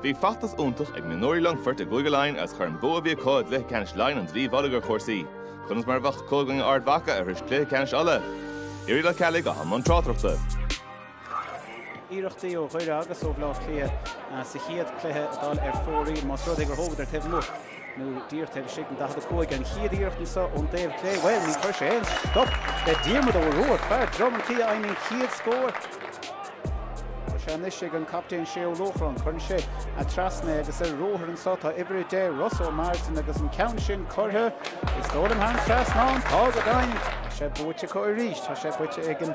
Bhí feachtas iontach ag mionúirí Longfoirt i gCúige Laighean agus chuir an bua a bhí acu i gcluiche ceannais Laighean an dlaoi mhullaigh ar chúrsaí. Conas mar a bheadh acu i gcoinne Ard Mhacha a shrois cluiche ceannais Uladh? Irial Ó Ceallaigh i mbun tráchtaireachta. Iarrachtaí ó Dhoire agus ó Bhaile Átha Cliath sa chéad cluiche ag dul ar fóraoil más rud é gur thógadar taobh amuigh. nó díreach taobh istigh den 45 an chéad iarracht anseo ón dtaobh clé. Bhuel, ní chuir sé aon stop le Diarmaid Ó Ruairc, fear Drom an Tí a fhaigheann an chéad scór. Tá sé anois ag an gcaptaen Shay Ó Luachráin. Cuireann sé trasna é agus ar ruathar anseo tá uimhir 10, Ross Ó Máirtín agus an ceann sin curtha, is dóigh liom, thar an trasnán. Tá go deimhin! Tá sé buaite acu arís. Tá sé buaite ag an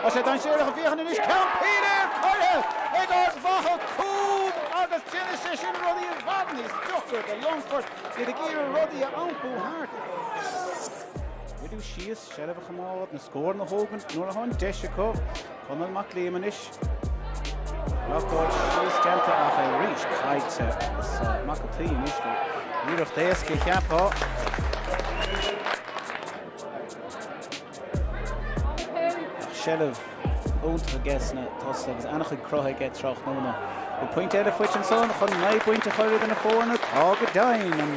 Tá sé dainséarach ag féachaint anois ceann pinn air curtha ag Ard Mhacha cúl agus déanann sé sin rudaí i bhfad níos deacra do Longfort iad ag iarraidh rudaí a iompú thart. Socrú síos seilbh a choimeád na scóranna a thógaint nuair atá an deis acu. Conall Mac Liam anois. Reáchtáil síos déanta ach é arís caillte agus Mac an tSaoi anois le hiarracht éasca a cheapfá. Bheadh seilbh iontach aige sna tosaithe agus an-chuid cruthaithe aige tráthnóna. Bhí pointe eile faighte ansan chun naoi bpointe a chur idir na foirne, tá go deimhin,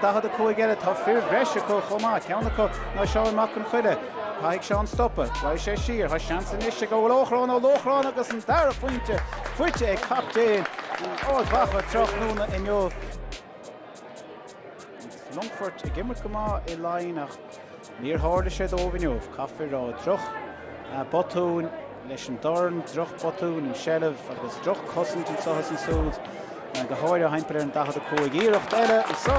45 eile. Tá fir bhreise acu chomh maith, ceann acu ná Seán Mac Conchoille. Caithfidh Seán stopadh. Raghaidh sé siar. Tá seans anois ag Ó Lóchráin, Ó Lóchráin agus an dara phointe faighte ag captaen Ard Mhacha tráthnóna inniu. Longfort ag imirt go maith i Laighin ach níor tharla sé dóibh inniu. Caithfear a rá, droch botúin leis an dorn, droch botúin an seilbh agus droch cosaint anseo is ansúd, go háirithe thimpeall ar an 45. Iarracht eile anseo,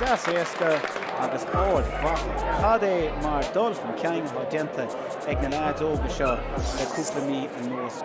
deas éasca agus Ard Mhacha. Cad é mar dul chun cinn atá déanta ag na leaids óga seo le cúpla mí anuas.